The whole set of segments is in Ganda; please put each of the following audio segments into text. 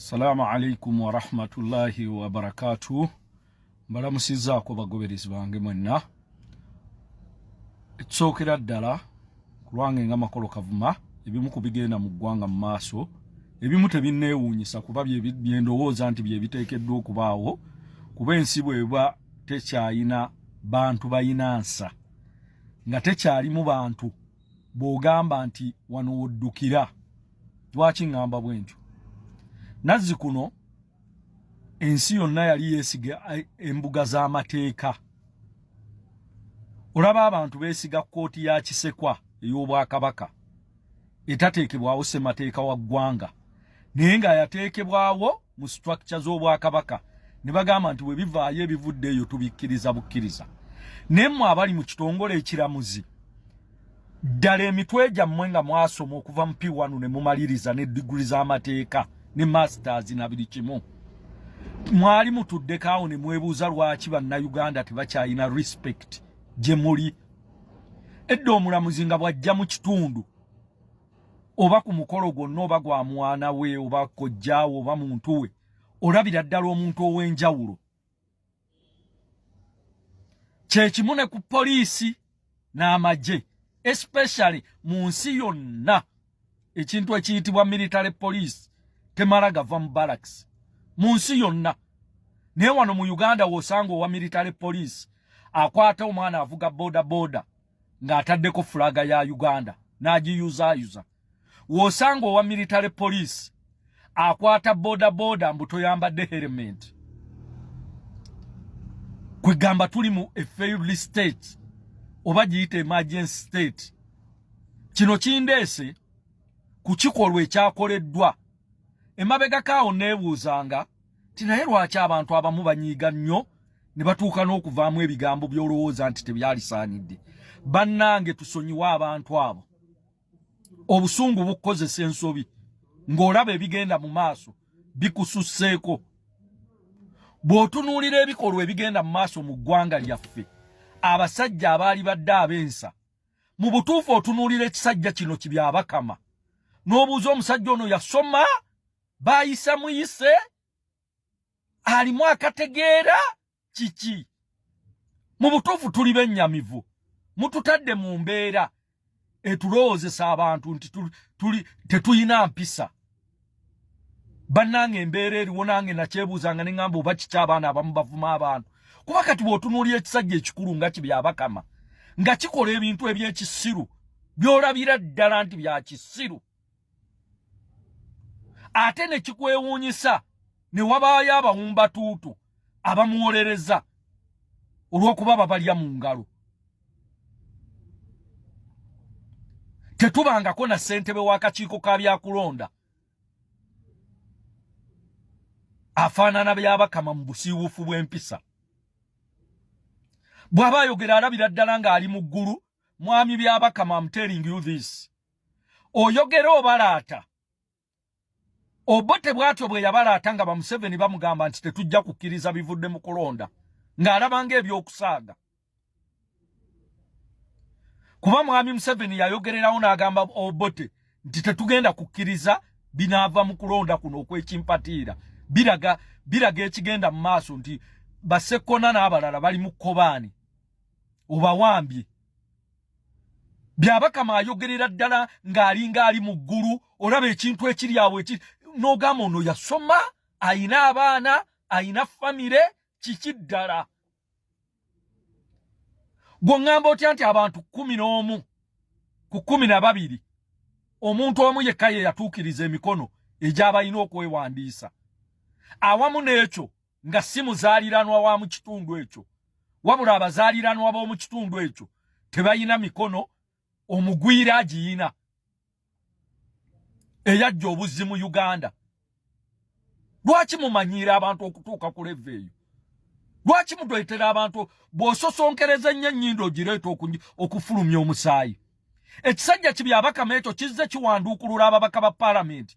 Assalamu alaikum warahmatullahi wabarakatuh. Mbalamusizaako bagoberezi bange mwenna. Ekisookera ddala kulwange nga makolo kavuma ebimu ku bigenda mu ggwanga mu maaso ebimu tebinneewuunyisa kuba byendowooza nti bye biteekeddwa okubaawo kuba ensi bweba tekyalina bantu balina nsa nga tekyalimu bantu bw'ogamba nti wano woddukira lwaki ŋŋamba bwe ntyo nazzi kuno ensi yonna yali yeesiga eh, embuga z'amateeka olaba abantu beesiga kkooti ya kisekwa ey'obwakabaka etateekebwawo ssemateeka wa ggwanga naye nga yateekebwawo mu structure z'obwakabaka ne bagamba nti bwe bivaayo ebivudde eyo tubikkiriza bukkiriza naye mmwe abali mu kitongole ekiramuzi ddala emitwe gyammwe nga mwasoma okuva mu p1 ne mumaliriza ne diguli z'amateeka ne masters na buli kimu mwali mutuddeko awo ne mwebuuza lwaki bannayuganda tebakyalina respect gye muli edda omulamuzi nga bw'ajja mu kitundu oba ku mukolo gwonna oba gwa mwana we oba kojjaawe oba muntu we olabira ddala omuntu ow'enjawulo kyekimu ne ku poliisi n'amagye especially mu nsi yonna ekintu ekiyitibwa military poliisi temala gava mu baraks mu nsi yonna naye wano mu uganda wosanga owa military poliisi akwata omwana avuga boda boda ng'ataddeko fulaga ya uganda n'agiyuzaayuza w'osanga owa military poliisi akwata bodaboda mbu toyambadde herementi kwegamba tuli mu a failed state oba giyita emergency state kino kindeese ku kikolwa ekyakoleddwa emabega kaawo neebuuzanga nti naye lwaki abantu abamu banyiiga nnyo ne batuuka n'okuvaamu ebigambo by'olowooza nti tebyalisaanidde bannange tusonyiwe abantu abo obusungu bukukozesa ensobi ng'olaba ebigenda mu maaso bikususseeko bw'otunuulira ebikolwa ebigenda mu maaso mu ggwanga lyaffe abasajja abaali badde ab'ensa mu butuufu otunuulira ekisajja kino kibyabakama n'obuuza omusajja ono yasoma baayisa muyise alimu akategeera kiki mu butuufu tuli bennyamivu mututadde mu mbeera etulowoozesa abantu nti tetulina mpisa bannange embeera eriwo nange nakyebuuzanga ne ŋamba oba kiki abaana abamu bavuma abantu kuba kati bw'otunuulira ekisajja ekikulu nga kibyabakama nga kikola ebintu eby'ekisiru by'olabira ddala nti bya kisiru ate ne kikwewuunyisa ne wabaayo abawumbatuutu abamuwolereza olw'okuba babalya mu ngalo tetubangako na ssentebe w'akakiiko ka byakulonda afaanana byabakama mu busiiwuufu bw'empisa bw'aba ayogera alabira ddala ng'ali mu ggulu mwami byabakama am telling you this oyogera obalaata Obote bwatyo bwe yabala atanga ba Museveni bamugamba nti tetujja kukiriza bivudde mu kulonda ng'alabanga ebyokusaaga kuba mwami Museveni yayogererawo n'agamba Obote nti tetugenda kukiriza binaava mu kulonda kuno okw'ekimpatiira biraga biraga ekigenda mu maaso nti basekkona n'abalala bali mu kkobaani obawambye byabakama ayogerera ddala ng'alinga ali mu ggulu olaba ekintu ekiri awo eki n'ogamba ono yasoma ayina abaana ayina famire kiki ddala gwe ŋŋamba otya nti abantu kumi n'omu ku kumi na babiri omuntu omu yekka ye yatuukiriza emikono egyabalina okwewandiisa awamu n'ekyo nga si muzaaliranwa wa mu kitundu ekyo wabula abazaaliranwa b'omu kitundu ekyo tebalina mikono omugwira agiyina eyajja obuzzi mu uganda lwaki mumanyiira abantu okutuuka ku leva eyo lwaki mutwetera abantu bw'ososonkereza ennyo ennyindo ogireeta okufulumya omusaayi ekisajja kibyabakama ekyo kizze kiwanduukulula ababaka ba palamenti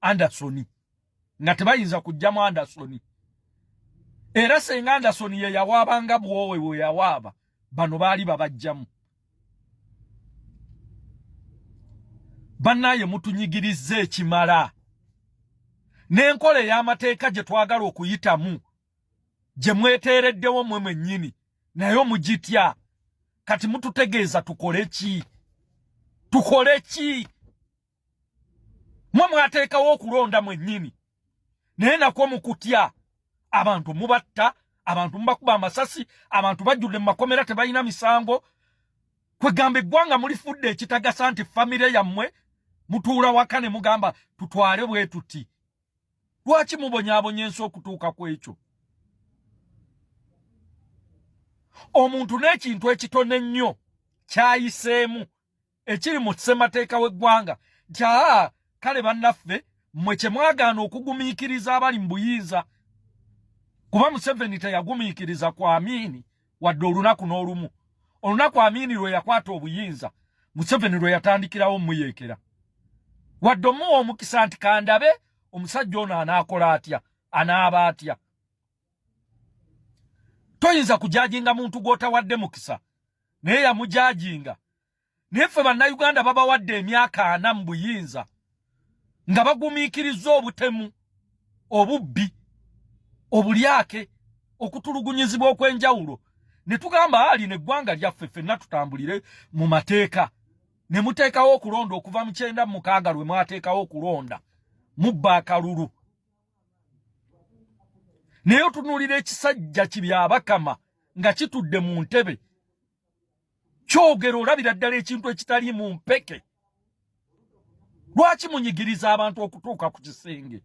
Anderson nga tebayinza kujjamu Anderson era senga Anderson ye yawaaba nga bwowe we yawaaba bano baali babajjamu banaye mutunyigiriza ekimala n'enkola ey'amateeka gye twagala okuyitamu gye mweteereddewo mwe mwennyini naye omugitya kati mututegeeza tukole ki tukole ki mwe mwateekawo okulonda mwennyini naye nakwo mu kutya abantu mubatta abantu mubakuba amasasi abantu bajjudde mu makomera tebalina misango kwegamba eggwanga mulifudde ekitagasa nti famire yammwe mutuula waka ne mugamba tutwale bwe tuti lwaki mubonyabonya ensi okutuuka ku ekyo omuntu n'ekintu ekitono ennyo kyayiseemu ekiri mu ssemateeka w'eggwanga nti aa kale bannaffe mmwe kye mwagaana okugumiikiriza abali mu buyinza kuba museveni teyagumiikiriza ku amiini wadde olunaku n'olumu olunaku amiini lwe yakwata obuyinza museveni lwe yatandikirawo omuyeekera wadde omuwa omukisa nti kandabe omusajja ono anaakola atya anaaba atya toyinza kujajinga muntu gwotawadde mukisa naye yamujajinga naye ffe bannayuganda babawadde emyaka ana mu buyinza nga bagumiikiriza obutemu obubbi obulyake okutulugunyizibwa okw'enjawulo ne tugamba ali neggwanga lyaffe ffenna tutambulire mu mateeka ne muteekawo okulonda okuva mu kyenda mu mukaaga lwe mwateekawo okulonda mubba akalulu naye otunuulira ekisajja kibyabakama nga kitudde mu ntebe kyogera olabira ddala ekintu ekitali mu mpeke lwaki munyigiriza abantu okutuuka ku kisenge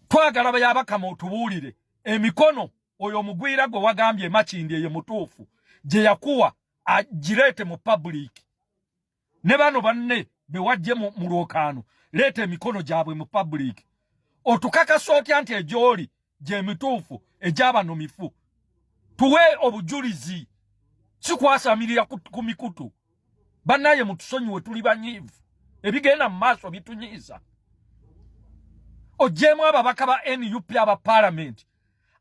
twagala bayabakama otubuulire emikono oyo omugwira gwe wagambye emakindi eyo mutuufu gye yakuwa agireete mu pabuliiki ne bano banne bewajje mu lwokaano leeta emikono gyabwe mu public otukakasa otya nti egyoli gyemituufu egyabano mifu tuwe obujulizi sikwasamirira ku mikutu bannaye mutusonyiwe tuli banyiivu ebigenda mu maaso bitunyiiza ogyemu ababaka ba nup aba palamenti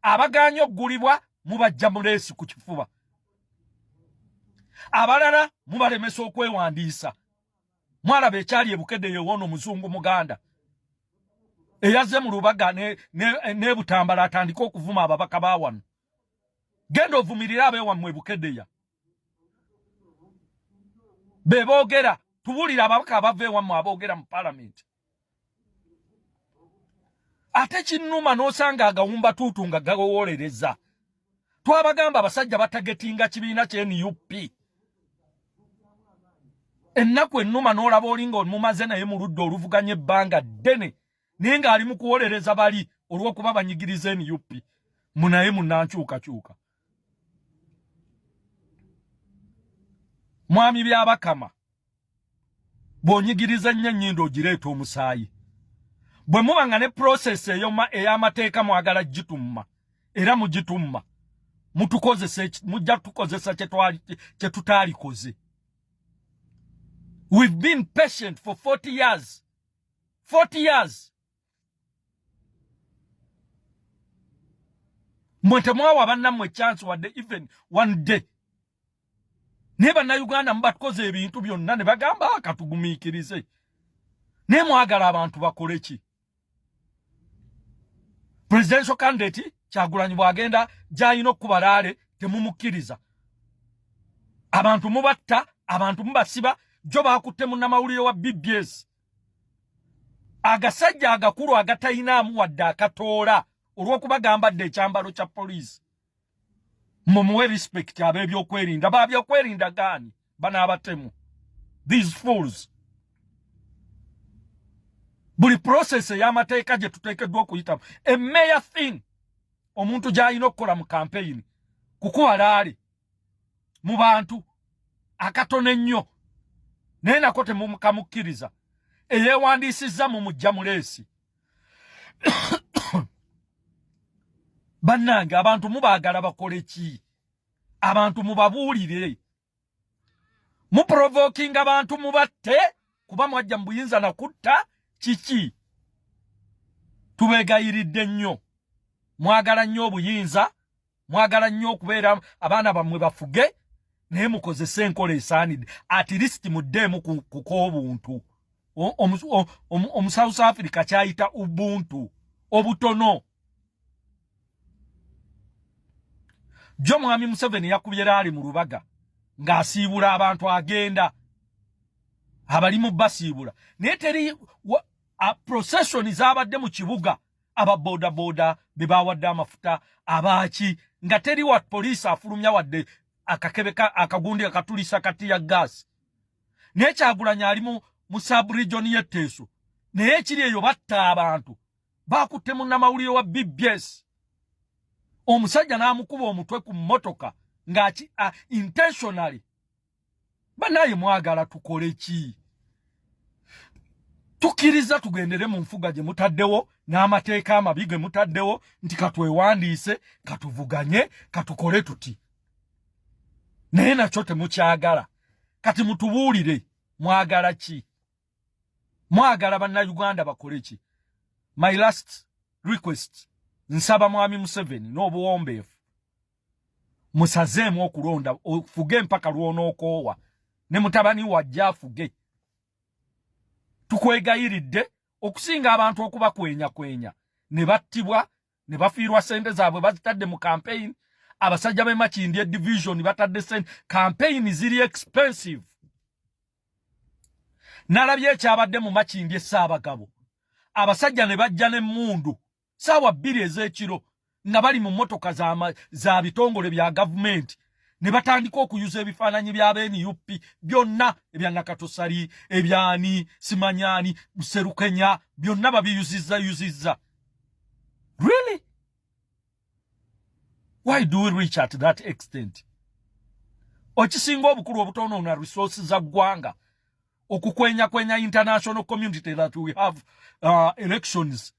abaganye okugulibwa mubajja muleesi ku kifuba abalala mubalemesa okwewandiisa mwalaba ekyali ebukede yewoono omuzungu muganda eyaze mu lubaga nebutambala ne, ne atandike okuvuma ababaka ba wano genda ovumirire abewammwe ebukedeya beboogera tuwulira ababaka abava ewammwe aboogera mu palamenti ate kinnuma n'osanga agawumba tuutu nga gawowolereza twabagamba abasajja batagetinga kibiina kye nup ennaku ennuma n'olaba oli nga omumaze naye mu ludda oluvuganya ebbanga ddene naye ng'ali mu kuwolereza bali olw'okuba banyigiriza nup munaye munankyukakyuka mwami byabakama bw'onyigiriza ennyo ennyindo ogireeta omusaayi bwe muba nga ne prosesi ey'amateeka mwagala gitumma era mugitumma mutukozesa mujja tukozesa kye tutaalikoze we've been patient for 40 years 40 years mwe temwawa bannammwe chance wadde even one day naye bannayuganda mubatukoze ebintu byonna ne bagamba ah, katugumiikirize naye mwagala abantu bakole ki presidential candidate kyagulanyi bwagenda gyalina okukuba laale temumukkiriza abantu mubatta abantu mubasiba jo bakutte munnamawulire wa bbs agasajja agakulu agatalinaamu wadde akatoola olw'okuba gambadde ekyambalo kya poliisi mumuwe respect ab'ebyokwerinda babyokwerinda gaani banaabatemu these fools buli process ey'amateeka gye tuteekeddwa okuyitamu emmeya thing omuntu gy'alina okukola mu kampeyini kukuba laali mu bantu akatono ennyo naye nako temumukamukkiriza eyeewandiisizza mu mujja muleesi bannange abantu mubaagala bakole ki abantu mubabuulire muprovokinga abantu mubatte kuba mwajja mu buyinza na kutta kiki tubeegayiridde nnyo mwagala nnyo obuyinza mwagala nnyo okubeera abaana bammwe bafuge naye mukozese enkola esaanidde at least muddeemu kukobuntu omu south africa kyayita ubuntu obutono jo mwami museveni yakubye laali mu lubaga ng'asiibula abantu agenda abalimu basiibula naye teri procession zaabadde mu kibuga aba boda boda be bawadde amafuta abaaki nga teri wa poliisi afulumya wadde akakebe akagundi akatulisa kati ya gaasi naye kyagulanya ali mu mu subregion y'etteeso naye ekiri eyo batta abantu baakutte munnamawulire wa bbs omusajja n'amukuba omutwe ku mmotoka nga intentionally banaye mwagala tukole ki tukiriza tugendere mu nfuga gye mutaddewo n'amateeka amabi ge mutaddewo nti katwewandiise katuvuganye katukole tuti naye nakyo temukyagala kati mutubuulire mwagala ki mwagala bannayuganda bakole ki my last request nsaba mwami museveni n'obuwombeefu musazeemu okulonda ofuge mpaka lwonookoowa ne mutabani wajja afuge tukwegayiridde okusinga abantu okuba kwenya kwenya ne battibwa ne bafiirwa sente zaabwe bazitadde mu kampeyini abasajja be makindye division batadde sente kampeyini ziri expensive nalabye ekyabadde mu makindye saabagabo abasajja ne bajja n'emmundu saawa bbiri ez'ekiro nga bali mu mmotoka za bitongole bya gavumenti ne batandika okuyuza ebifaananyi bya benup byonna ebya nakatosali ebyani simanyani buserukenya byonna babiyuzizza yuzizza really why do we reach at that extent okisinga obukulu obutonoona resource za ggwanga okukwenyakwenya international community that we have uh, elections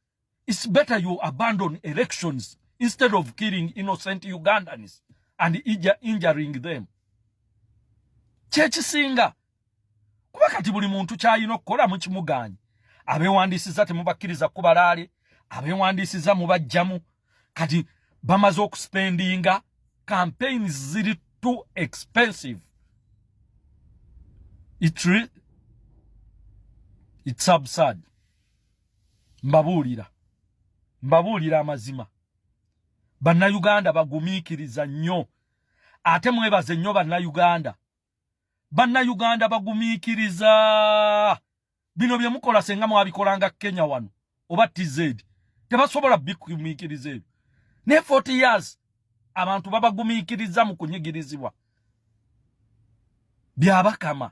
It's better you abandon elections instead of killing innocent Ugandans and injuring them. Kyekisinga kuba kati buli muntu kyalina okukola mu kimugaanyi. Abeewandiisizza temubakkiriza kubalaale, abeewandiisizza mubajjamu kati bamaze okuspendinga campaigns ziri too expensive. It's, it's absurd. mbabuulira mbabuulira amazima bannayuganda bagumiikiriza nnyo ate mwebaze nnyo bannayuganda bannayuganda bagumiikiriza bino bye mukola senga mwabikolanga kenya wano oba tz tebasobola bikumiikiriza ebyo naye 40 years abantu babagumiikiriza mu kunyigirizibwa byabakama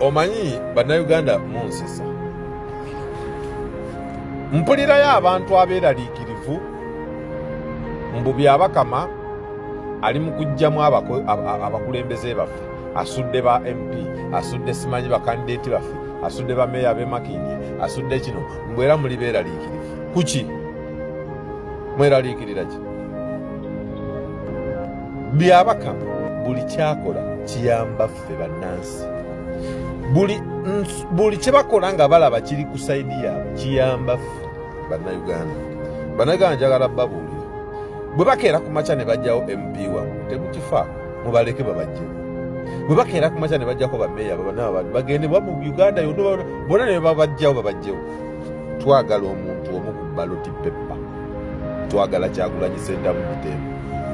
omanyi bannayuganda munsisa mpulirayo abantu abeeraliikirivu mbu byabakama ali mu kujjamu abakulembeze baffe asudde ba mp asudde simanyi bakandideeti baffe asudde bameeya bemakindi asudde kino mbwera muli beeraliikirivu kuki mweraliikirira ki byabaka buli kyakola kiyamba ffe bannansi buli buli kye bakola nga balaba kiri ku saidi yaabwe kiyamba ffe bannayuganda bannayuganda njagala babuulira bwe bakeera ku makya ne bajjawo mp wamu temukifa mubaleke babajjemu bwe bakeera ku makya ne bajjako bameeya babanaabantu bagende wamu uganda yonna bona ne babajjawo babajjewo twagala omuntu omu ku baloti peppa twagala kyagulanyi sentamu mutembe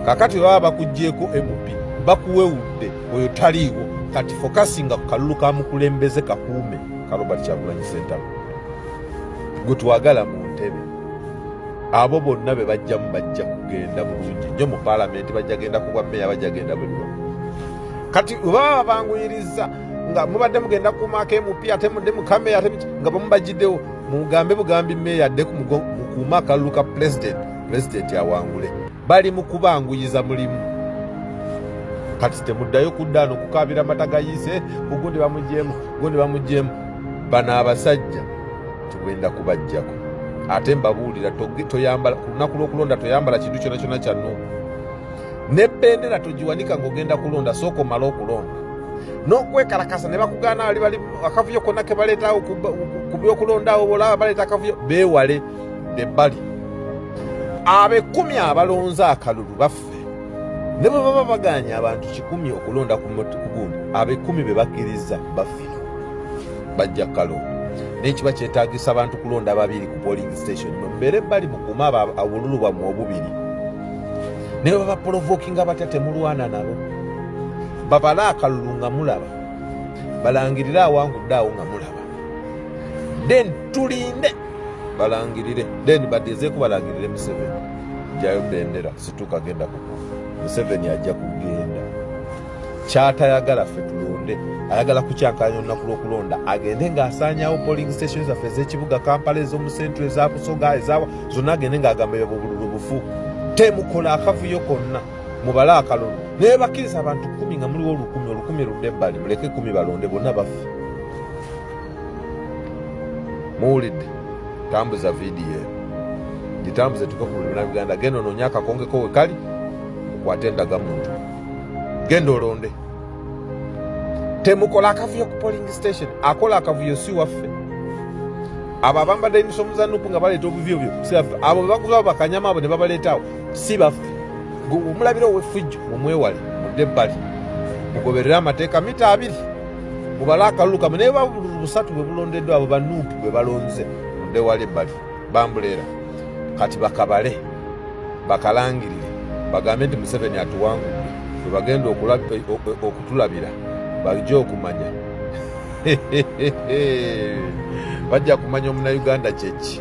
kakati baba bakugyeko mp bakuwewudde oyo taliiwo kati fokasinga ku kalulu ka mukulembeze kakuume ka robert kyagulanyi sentamu gwe twagala mu ntebe abo bonna be bajjamu bajja kugenda bulungi nnyo mu palamenti bajja genda ku bwammeeya bajja genda buli wamu kati baba banguyiriza nga mubadde mugenda kumaako mp ate mudde mukameya nga bamubajjiddewo mugambe bugambi meeya adde kuuma akalulu ka pulezidenti pulezidenti awangule bali mu kubanguyiza mulimu kati temuddayo kudda no kukaabira mata gayiise ugundi bamugyemu gundi bamugyemu bano abasajja tugenda kubajjako ate mbabuulira toyambala ku lunaku lw'okulonda toyambala kintu kyona kyona kyannu ne bendera togiwanika ng'ogenda kulonda sooka omale okulonda n'okwekalakasa ne bakugaana ali bali akavuyo konna ke baleetawo ku byokulondawo olaba baleeta akavuyo beewale be bali abekumi abalonze akalulu baffe ne bwe baba baganya abantu kikumi okulonda ku gundi abekumi be bakkiriza baffe bajja kalonda naye kiba kyetagisa abantu kulonda babiri ku polling station mubeere bali mukume obululu bwammwe obubiri naye babapolovokinga batya temulwana nabo babale akalulu nga mulaba balangirire awangudde awo nga mulaba then tulinde balangirire then badezeeku balangirire museveni jayo bendera situka genda kuku museveni ajja kugenda kyatayagala ffe tulonde ayagala kukyankalanya olunaku lwokulonda agende ngaasaanyawo polling station zaffe ezekibuga kampala ezomusentre ezabusoga ezawa zonna agende ngaagamba ebyo bubululu bufu temukola akavuyo konna mubale akalulu naye bakkiriza abantu kumi nga muliwo olukumi olukumi ludde ebbali muleke kumi balonde bonna baffe muwulidde tambuza vidiyo eno gitambuze tuke ku lulina luganda genda onoonye akakongeko wekali okwate endagamuntu genda olonde temukola akavuyo ku polling station akola akavuyo si waffe abo abambadde emisomo za nupu nga baleeta obuvuyo byo si baffe abo bebakuba bakanyama abo ne babaleetaawo si baffe omulabira owefujjo mumwewale mudde ebbali mugoberere amateeka mita abiri mubale akalulu kamwe naye babululu busatu bwe bulondeddwa abo banupu bwe balonze mudde wali ebbali bambulera kati bakabale bakalangirire bagambe nti museveni atuwangudde webagenda okutulabira bajja okumanya bajja kumanya omunauganda kyeki